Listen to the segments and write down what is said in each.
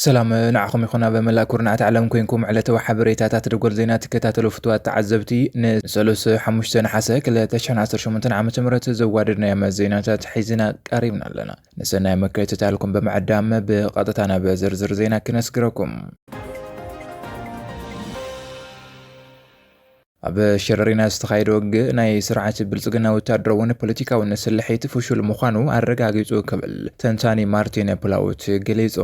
ሰላም ንዓኹም ይኹን ኣብ መላእ ኩርናዓት ዓለም ኮንኩም ዕለታዊ ሓበሬታታት ደጎል ዜና ትከታተሉ ፍትዋት ተዓዘብቲ ንሰሉስ ሓሙሽተ ነሓሰ 2018 ዓ ም ዘዋደድናዮም ዜናታት ሒዝና ቀሪብና ኣለና ንሰናይ ምክትታልኩም ብምዕዳም ብቐጥታ ናብ ዝርዝር ዜና ክነስግረኩም። ኣብ ሸረሪና ዝተኻየደ ውግእ ናይ ስርዓት ብልጽግና ወታደራውን ፖለቲካውን ስልሒት ፍሹል ምዃኑ ኣረጋጊጹ ክብል ተንታኒ ማርቲን ፕላውት ገሊጹ።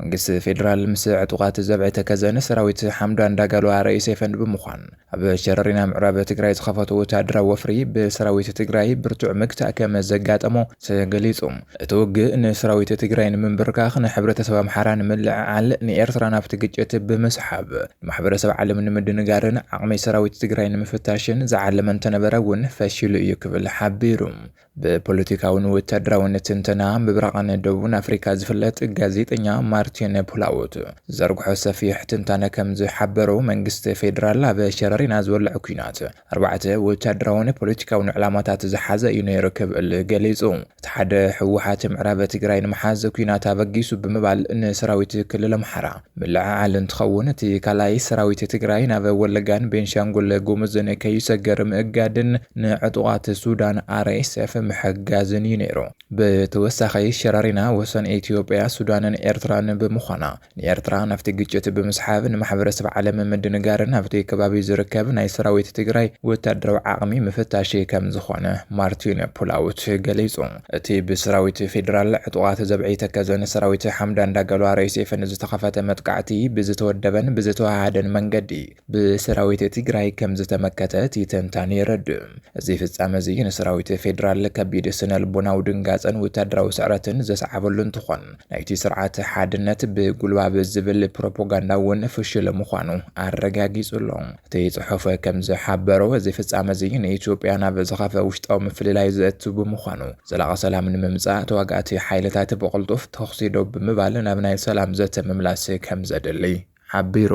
መንግስቲ ፌደራል ምስ ዕጡቓት ዘብዐ ተከዘን ሰራዊት ሓምዳን ዳጋሎ ኣረኢ ሰይፈንድ ብምዃን ኣብ ሸረሪና ምዕራብ ትግራይ ዝኸፈቶ ወታደራዊ ወፍሪ ብሰራዊት ትግራይ ብርቱዕ መግታእ ከም ዘጋጠሞ ተገሊፁ። እቲ ውግእ ንሰራዊት ትግራይ ንምንብርካኽ ንሕብረተሰብ ኣምሓራ ንምልዕዓል ንኤርትራ ናብቲ ግጭት ብምስሓብ ንማሕበረሰብ ዓለም ንምድንጋርን ዓቕሚ ሰራዊት ትግራይ ንምፍታሽን ዝዓለመ እንተነበረ እውን ፈሺሉ እዩ ክብል ሓቢሩ። ብፖለቲካውን ወታደራውን ትንተና ምብራቕን ደቡብን ኣፍሪካ ዝፍለጥ ጋዜጠኛ ማርቲን ፕላውት ዘርግሖ ሰፊሕ ትንታነ ከም ዝሓበሮ መንግስቲ ፌዴራል ኣብ ሸረሪና ዝወልዕ ኲናት ኣርባዕተ ወታደራውን ፖለቲካውን ዕላማታት ዝሓዘ እዩ ነይሩ ክብል ገሊፁ። እቲ ሓደ ህወሓት ምዕራብ ትግራይ ንምሓዝ ኲናት ኣበጊሱ ብምባል ንሰራዊት ክልል ኣምሓራ ምልዕዓል እንትኸውን እቲ ካልኣይ ሰራዊት ትግራይ ናብ ወለጋን ቤንሻንጉል ጉሙዝን ከይሰግር ምእጋድን ንዕጡቓት ሱዳን፣ RSF፣ ምሕጋዝን እዩ ነይሩ። ብተወሳኺ ሸረሪና ወሰን ኢትዮጵያ፣ ሱዳንን ኤርትራን ብምዃና ንኤርትራ ናብቲ ግጭት ብምስሓብ ንማሕበረሰብ ዓለም ምድንጋርን ኣብቲ ከባቢ ዝርከብ ናይ ሰራዊት ትግራይ ወታደራዊ ዓቕሚ ምፍታሽ ከምዝኾነ ማርቲን ፑላውት ገሊፁ። እቲ ብሰራዊት ፌደራል ዕጡቓት ዘብዐይ ተከዘን ሰራዊት ሓምዳን ዳገሎ ኣርኤስኤፍን ዝተኸፈተ መጥቃዕቲ ብዝተወደበን ብዝተወሃሃደን መንገዲ ብሰራዊት ትግራይ ከምዝተመከተ እቲ ተንታኒ የረድእ። እዚ ፍፃመ እዚ ንሰራዊት ፌደራል ከቢድ ስነልቦናዊ ድንጋፀን ወታደራዊ ስዕረትን ዘስዓበሉ እንትኾን ናይቲ ስርዓት ሓድነት ብጉልባብ ዝብል ፕሮፖጋንዳ እውን ፍሹል ምዃኑ ኣረጋጊፁ ኣሎ። እቲ ጽሑፍ ከም ዝሓበሮ፣ እዚ ፍጻመ እዚ ንኢትዮጵያ ናብ ዝኸፍኣ ውሽጣዊ ምፍልላይ ዘእቱ ብምዃኑ፣ ዘላቒ ሰላም ንምምጻእ ተዋጋእቲ ሓይልታት ብቕልጡፍ ተኹሲ ደው ብምባል ናብ ናይ ሰላም ዘተ ምምላስ ከም ዘድሊ ሓቢሩ።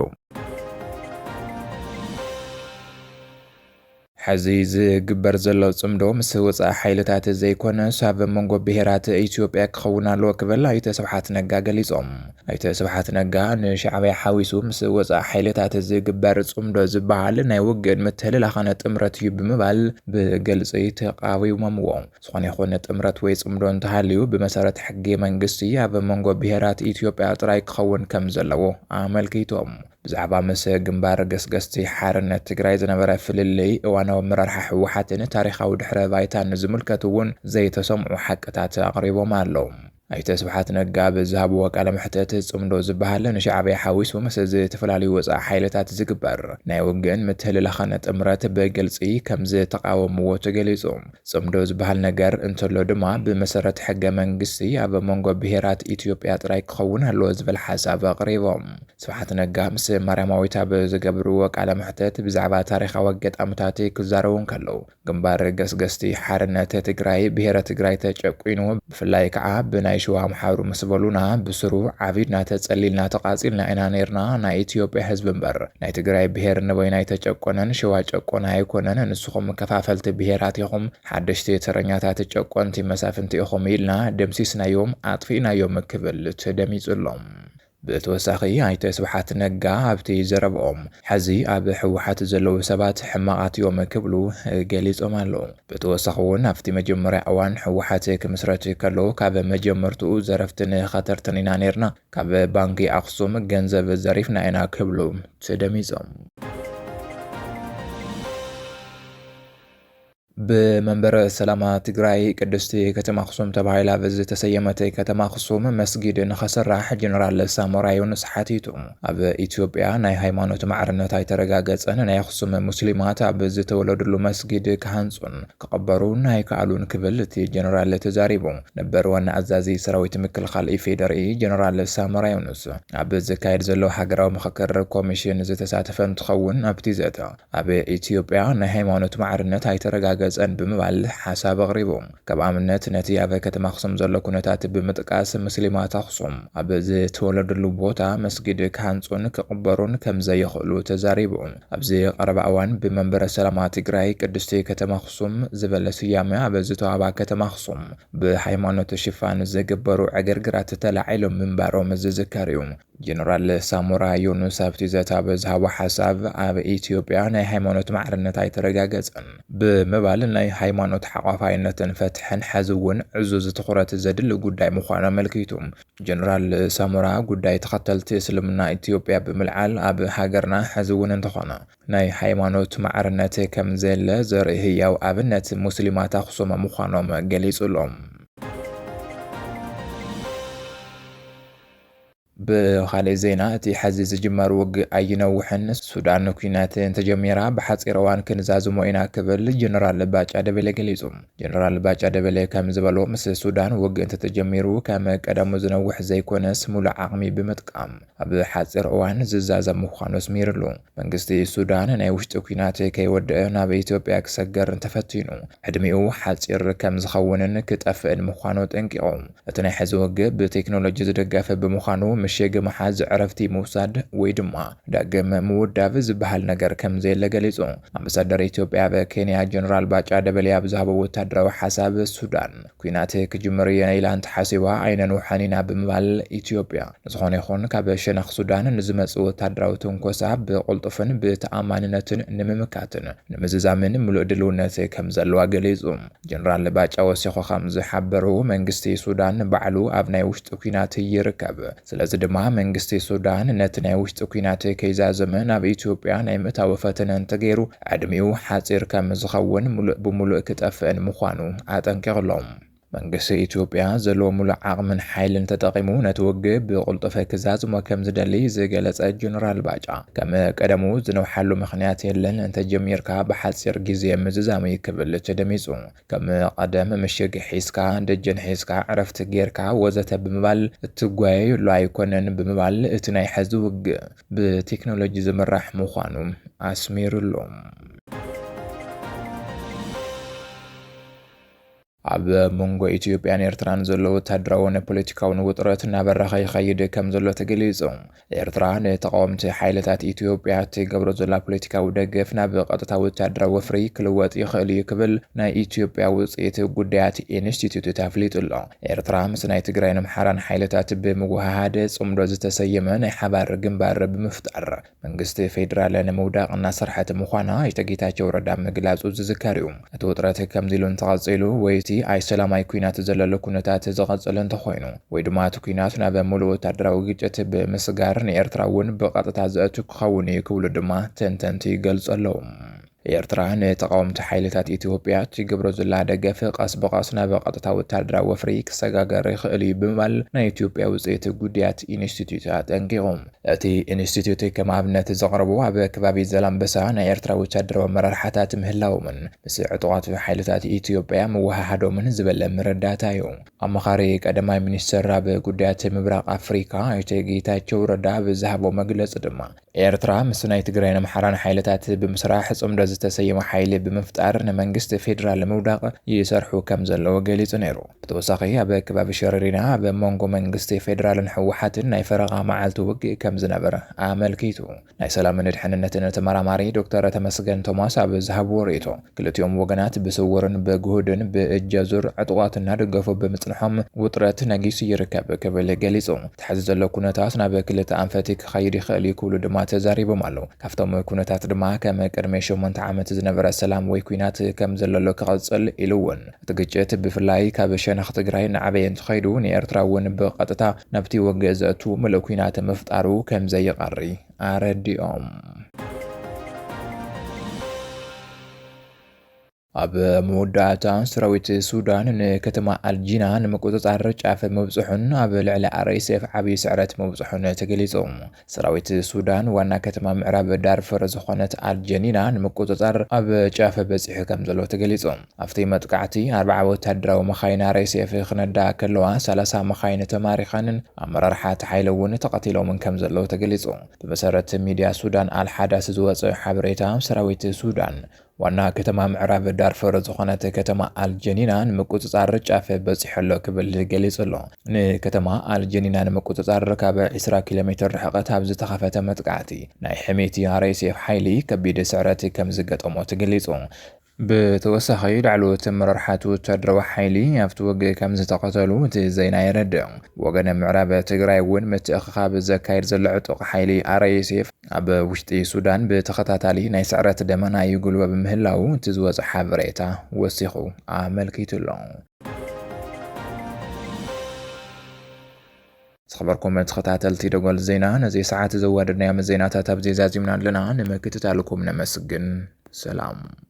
ሕዚ ዝግበር ዘሎ ጽምዶ ምስ ወጻኢ ሓይልታት ዘይኮነስ ኣብ መንጎ ብሄራት ኢትዮጵያ ክኸውን ኣለዎ ክብል ኣይተ ስብሓት ነጋ ገሊጾም። ኣይተ ስብሓት ነጋ ንሻዕብያ ሓዊሱ ምስ ወፃኢ ሓይልታት ዝግበር ፅምዶ ዝበሃል ናይ ውግእን ምትህልላኽን ጥምረት እዩ ብምባል ብግልፂ ተቓዊሞምዎ። ዝኾነ ይኹን ጥምረት ወይ ፅምዶ እንተሃልዩ ብመሰረት ሕጊ መንግስቲ ኣብ መንጎ ብሄራት ኢትዮጵያ ጥራይ ክኸውን ከምዘለዎ ኣመልኪቶም። ብዛዕባ ምስ ግንባር ገስገስቲ ሓርነት ትግራይ ዝነበረ ፍልልይ፣ እዋናዊ ኣመራርሓ ህወሓትን ታሪኻዊ ድሕረ ባይታን ዝምልከት እውን ዘይተሰምዑ ሓቅታት ኣቕሪቦም ኣለው። ኣይተ ስብሓት ነጋ ኣብ ዝሃብዎ ቃለ መሕተት፣ ፅምዶ ዝበሃል ንሻዕቢያ ሓዊሱ ምስ ዝተፈላለዩ ወፃኢ ሓይልታት ዝግበር ናይ ውግእን ምትህልላኽን ጥምረት ብግልፂ ከምዝተቓወምዎ ተገሊፁ። ፅምዶ ዝበሃል ነገር እንተሎ ድማ ብመሰረት ሕገ መንግስቲ ኣብ መንጎ ብሄራት ኢትዮጵያ ጥራይ ክኸውን ኣለዎ ዝብል ሓሳብ ኣቕሪቦም። ስብሓት ነጋ ምስ ማርያማዊት ኣብ ዝገብርዎ ቃለ መሕተት ብዛዕባ ታሪኻዊ ኣጋጣምታት ክዛረቡ እንከለው፣ ግንባር ገስገስቲ ሓርነት ትግራይ ብሄረ ትግራይ ተጨቊኑ ብፍላይ ከዓ ብናይ ሽዋ ኣምሓሩ ምስ በሉና ብስሩ ዓቢድና ተፀሊልና ተቓፂልና ኢና ነይርና ናይ ኢትዮጵያ ህዝቢ እምበር ናይ ትግራይ ብሄር ንበይኑ ኣይተጨቆነን ሽዋ ጨቆነ ኣይኮነን ንስኹም ከፋፈልቲ ብሄራት ኢኹም ሓደሽቲ ተረኛታት ጨቆንቲ መሳፍንቲ ኢኹም ኢልና ደምሲስናዮም ኣጥፊእናዮም ክብል ተደሚፁ ኣሎ። ብተወሳኺ ኣይተ ስብሓት ነጋ ኣብቲ ዘረብኦም ሐዚ ኣብ ህወሓት ዘለዉ ሰባት ሕማቓት እዮም ክብሉ ገሊፆም ኣለዉ። ብተወሳኺ እውን ኣብቲ መጀመርያ እዋን ህወሓት ክምስረት ከሎ ካብ መጀመርትኡ ዘረፍትን ኸተርትን ኢና ነይርና፣ ካብ ባንኪ ኣኽሱም ገንዘብ ዘሪፍና ኢና ክብሉ ተደሚፆም። ብመንበረ ሰላማ ትግራይ ቅድስቲ ከተማ ኣኽሱም ተባሂላ ብዝተሰየመት ከተማ ኣኽሱም መስጊድ ንኸስራሕ ጀነራል ሳሞራ ዮኑስ ሓቲቱ። ኣብ ኢትዮጵያ ናይ ሃይማኖት ማዕርነት ኣይተረጋገፀን፣ ናይ ኣኽሱም ሙስሊማት ኣብ ዝተወለድሉ መስጊድ ክሃንፁን ክቕበሩን ኣይከኣሉን ክብል እቲ ጀነራል ተዛሪቡ። ነበር ዋና ኣዛዚ ሰራዊት ምክልኻል ኢፌዴሪ ጀነራል ሳሞራ ዮኑስ ኣብ ዝካየድ ዘሎ ሃገራዊ ምኽክር ኮሚሽን ዝተሳተፈ እንትኸውን ኣብቲ ዘተ ኣብ ኢትዮጵያ ናይ ሃይማኖት ማዕርነት ኣይተረጋገፀን ብምባል ሓሳብ ኣቕሪቡ። ከም ኣብነት ነቲ ኣብ ከተማ ኣኽሱም ዘሎ ኩነታት ብምጥቃስ ሙስሊማት ኣኽሱም ኣብ ዝተወለድሉ ቦታ መስጊድ ክሃንፁን ክቕበሩን ከምዘይኽእሉ ተዛሪቡ። ኣብዚ ቐረባ እዋን ብመንበረ ሰላማ ትግራይ ቅድስቲ ከተማ ኣኽሱም ዝበለ ስያመ ኣብ ዝተውሃባ ከተማ ኣኽሱም ብሃይማኖት ሽፋን ዝግበሩ ዕግርግራት ተላዒሎም ምንባሮም ዝዝከር ዩ። ጀነራል ሳሞራ ዮኑስ ኣብቲ ዘተ ኣብ ዝሃቦ ሓሳብ፣ ኣብ ኢትዮጵያ ናይ ሃይማኖት ማዕርነት ኣይተረጋገጸን ብምባል፣ ናይ ሃይማኖት ሓቋፋይነትን ፍትሕን ሐዚ'ውን ዕዙዝ ትኹረት ዘድሊ ጉዳይ ምዃኑ ኣመልኪቱ። ጀነራል ሳሞራ፣ ጉዳይ ተኸተልቲ እስልምና ኢትዮጵያ ብምልዓል፣ ኣብ ሃገርና ሐዚ'ውን እንተኾነ ናይ ሃይማኖት ማዕርነት ከምዘየለ ዘርኢ ህያው ኣብነት ሙስሊማት ኣኽሱም ምዃኖም ገሊጹ'ሎ። ብኻሊእ ዜና እቲ ሐዚ ዝጅመር ውግእ ኣይነውሕን፣ ሱዳን ኲናት እንተጀሚራ ብሓፂር እዋን ክንዛዝሞ ኢና ክብል ጀነራል ባጫ ደበሌ ገሊፁ። ጀነራል ባጫ ደበሌ ከምዝበሎ ምስ ሱዳን ውግእ እንተተጀሚሩ ከም ቀደሙ ዝነውሕ ዘይኮነስ ሙሉእ ዓቕሚ ብምጥቃም ኣብ ሓፂር እዋን ዝዛዘም ምዃኑ ኣስሚርሉ። መንግስቲ ሱዳን ናይ ውሽጢ ኲናት ከይወደኣ ናብ ኢትዮጵያ ክሰገር እንተፈቲኑ ዕድሚኡ ሓጺር ከም ዝኸውንን ክጠፍእን ምዃኑ ኣጠንቂቑ። እቲ ናይ ሕዚ ውግእ ብቴክኖሎጂ ዝድገፍ ብምዃኑ ምሽግ ምሓዝ፣ ዕረፍቲ ምውሳድ ወይ ድማ ዳግም ምውዳብ ዝበሃል ነገር ከም ዘየለ ገሊጹ። ኣምባሳደር ኢትዮጵያ ኣብ ኬንያ ጀነራል ባጫ ደበሌ ኣብ ዝሃቦ ወታደራዊ ሓሳብ ሱዳን፣ ኲናት ክጅምር እየ ኢላ እንተሓሲባ ኣይነንውሓን ኢና ብምባል ኢትዮጵያ ንዝኾነ ይኹን ካብ ሸነኽ ሱዳን ንዝመፅእ ወታደራዊ ትንኮሳ ብቕልጡፍን ብተኣማንነትን ንምምካትን ንምዝዛምን ምሉእ ድልውነት ከምዘለዋ ገሊፁ። ጀነራል ባጫ ወሲኹ ከምዝሓበሩ መንግስቲ ሱዳን ባዕሉ ኣብ ናይ ውሽጢ ኲናት ይርከብ። ስለዚ ድማ መንግስቲ ሱዳን ነቲ ናይ ውሽጢ ኲናት ከይዛዘመ ናብ ኢትዮጵያ ናይ ምእታው ፈተነ እንተገይሩ ዕድሚኡ ሓጺር ከም ዝኸውን ምሉእ ብምሉእ ክጠፍእን ምዃኑ ኣጠንቂቑ ኣሎ። መንግስቲ ኢትዮጵያ ዘለዎ ምሉእ ዓቕምን ሓይልን ተጠቒሙ ነቲ ውግእ ብቕልጡፍ ክዛዝሞ ከም ዝደሊ ዝገለጸ ጀነራል ባጫ ከም ቀደሙ ዝነውሓሉ ምኽንያት የለን፣ እንተጀሚርካ ብሓጺር ግዜ ምዝዛም'ዩ ክብል ተደሚጹ። ከም ቐደም ምሽግ ሒዝካ፣ ደጀን ሒዝካ፣ ዕረፍቲ ጌርካ ወዘተ ብምባል እትጓየየሉ ኣይኮነን ብምባል እቲ ናይ ሐዚ ውግእ ብቴክኖሎጂ ዝምራሕ ምዃኑ ኣስሚርሉ። ኣብ መንጎ ኢትዮጵያን ኤርትራን ዘሎ ወታደራውን ፖለቲካውን ውጥረት እናበረኸ ይኸይድ ከምዘሎ ተገሊፁ። ኤርትራ ንተቓወምቲ ሓይልታት ኢትዮጵያ እትገብሮ ዘላ ፖለቲካዊ ደገፍ ናብ ቐጥታዊ ወተሃደራዊ ወፍሪ ክልወጥ ይኽእል እዩ ክብል ናይ ኢትዮጵያ ውጽኢት ጉዳያት ኢንስቲትዩትት ኣፍሊጡ ኣሎ። ኤርትራ ምስ ናይ ትግራይን ኣምሓራን ሓይልታት ብምውህሃድ ጽምዶ ዝተሰየመ ናይ ሓባር ግንባር ብምፍጣር መንግስቲ ፌደራል ንምውዳቕ እናሰርሐት ምዃና ኣይተ ጌታቸው ረዳ ምግላጹ ዝዝከር እዩ። እቲ ውጥረት ከምዚ ኢሉ እንተቐጺሉ ወይ እቲ ኣይሰላማይ ኲናት ዘለሉ ኩነታት ዝቐጽል እንተኾይኑ ወይ ድማ እቲ ኲናት ናብ ሙሉእ ወታደራዊ ግጭት ብምስጋር ንኤርትራ እውን ብቐጥታ ዘእቱ ክኸውን እዩ ክብሉ ድማ ተንተንቲ ይገልጹ ኣለዉ። ኤርትራ ንተቓወምቲ ሓይልታት ኢትዮጵያ እትገብሮ ዘላ ደገፍ ቐስ ብቐስ ናብ ቐጥታ ወታደራዊ ወፍሪ ክሰጋገር ይኽእል እዩ ብምባል ናይ ኢትዮጵያ ውጽኢት ጉዳያት ኢንስቲትዩት ኣጠንቂቑ። እቲ ኢንስቲትዩት ከም ኣብነት ዘቕረቡ ኣብ ከባቢ ዛላምበሳ ናይ ኤርትራ ወታደራዊ ኣመራርሓታት ምህላዎምን ምስ ዕጡቓት ሓይልታት ኢትዮጵያ ምውሃሃዶምን ዝበለ መረዳእታ እዩ። ኣማኻሪ ቀዳማይ ሚኒስተር ኣብ ጉዳያት ምብራቕ ኣፍሪካ ኣይተ ጌታቸው ረዳ ኣብ ዝሃቦ መግለፂ ድማ ኤርትራ ምስ ናይ ትግራይን ኣምሓራን ሓይልታት ብምስራሕ ፅምዶ ዝተሰየመ ሓይሊ ብምፍጣር ንመንግስቲ ፌዴራል ንምውዳቕ ይሰርሑ ከምዘለዉ ገሊፁ ነይሩ። ብተወሳኺ ኣብ ከባቢ ሸረሪና ኣብ መንጎ መንግስቲ ፌደራልን ህወሓትን ናይ ፈረቓ መዓልቲ ውግእ ከምዝነበረ ኣመልኪቱ። ናይ ሰላምን ድሕንነትን ተመራማሪ ዶክተር ተመስገን ቶማስ ኣብ ዝሃብዎ ርእይቶ፣ ክልቲኦም ወገናት ብስውርን ብግሁድን ብእጅ ኣዙር ዕጡቓት እናደገፉ ብምፅንሖም ውጥረት ነጊሱ ይርከብ ክብል ገሊፁ። እቲ ሐዚ ዘሎ ኩነታት ናብ ክልተ ኣንፈት ክኸይድ ይኽእል ዩ ክብሉ ድማ ተዛሪቦም ኣለው። ካፍቶም ኩነታት ድማ ከም ቅድሚ ሸሞንተ ዓመት ዝነበረ ሰላም ወይ ኲናት ከምዘለሎ ክቕፅል ኢሉ ውን እቲ ግጭት ብፍላይ ካብ ሸነኽ ትግራይ እናዓበየ እንተኸይዱ ንኤርትራ እውን ብቐጥታ ናብቲ ወግእ ዘእቱ ምሉእ ኲናት ምፍጣሩ ከምዘይቐሪ ኣረዲኦም። ኣብ መወዳእታ ሰራዊት ሱዳን ንከተማ ኣልጂና ንምቁፅፃር ጫፍ ምብፅሑን ኣብ ልዕሊ ኣርኤስኤፍ ዓብዪ ስዕረት ምብፅሑን ተገሊፁ። ሰራዊት ሱዳን ዋና ከተማ ምዕራብ ዳርፈር ዝኾነት ኣል ጀኒና ንምቁጽጻር ኣብ ጫፍ በጺሑ ከምዘሎ ተገሊጹ። ኣብቲ መጥቃዕቲ ኣርብዓ ወታደራዊ መኻይን ኣርኤስኤፍ ክነድኣ ከለዋ ሰላሳ መኻይን ተማሪኸንን ኣመራርሓ እቲ ሓይሊ እውን ተቐቲሎምን ከምዘለዉ ተገሊጹ። ብመሰረት ሚድያ ሱዳን ኣል ሓዳስ ዝወጸ ሓበሬታ ሰራዊት ሱዳን ዋና ከተማ ምዕራብ ዳርፈር ዝኾነት ከተማ ኣልጀኒና ንምቁጽጻር ጫፍ በጺሑ ኣሎ ክብል ገሊጹ ኣሎ። ንከተማ ኣልጀኒና ንምቁጽጻር ካብ ዕስራ ኪሎ ሜትር ርሕቐት ኣብ ዝተኸፈተ መጥቃዕቲ፣ ናይ ሕሜቲ RSF ሓይሊ ከቢድ ስዕረት ከምዝገጠሞ ተገሊጹ። ብተወሳኺ ላዕለዎት ኣመራርሓ'ቲ ወተሃደራዊ ሓይሊ ኣብቲ ውግእ ከምዝተቐተሉ እቲ ዜና የረድእ። ብወገን ምዕራብ ትግራይ'ውን ምትእኽኻብ ዘካይድ ዘሎ ዕጡቕ ሓይሊ RSF፣ ኣብ ውሽጢ ሱዳን ብተኸታታሊ ናይ ስዕረት ደመና ይጉልበብ ምህላዉ እቲ ዝወፀ ሓበሬታ ወሲኹ ኣመልኪቱ ኣሎ። ዝኸበርኩም ተኸታተልቲ ደጎል ዜና ነዚ ሰዓት ዘዋደድናዮም ዜናታት ኣብዚ ዛዚምና ኣለና። ንምክትታልኩም ነመስግን። ሰላም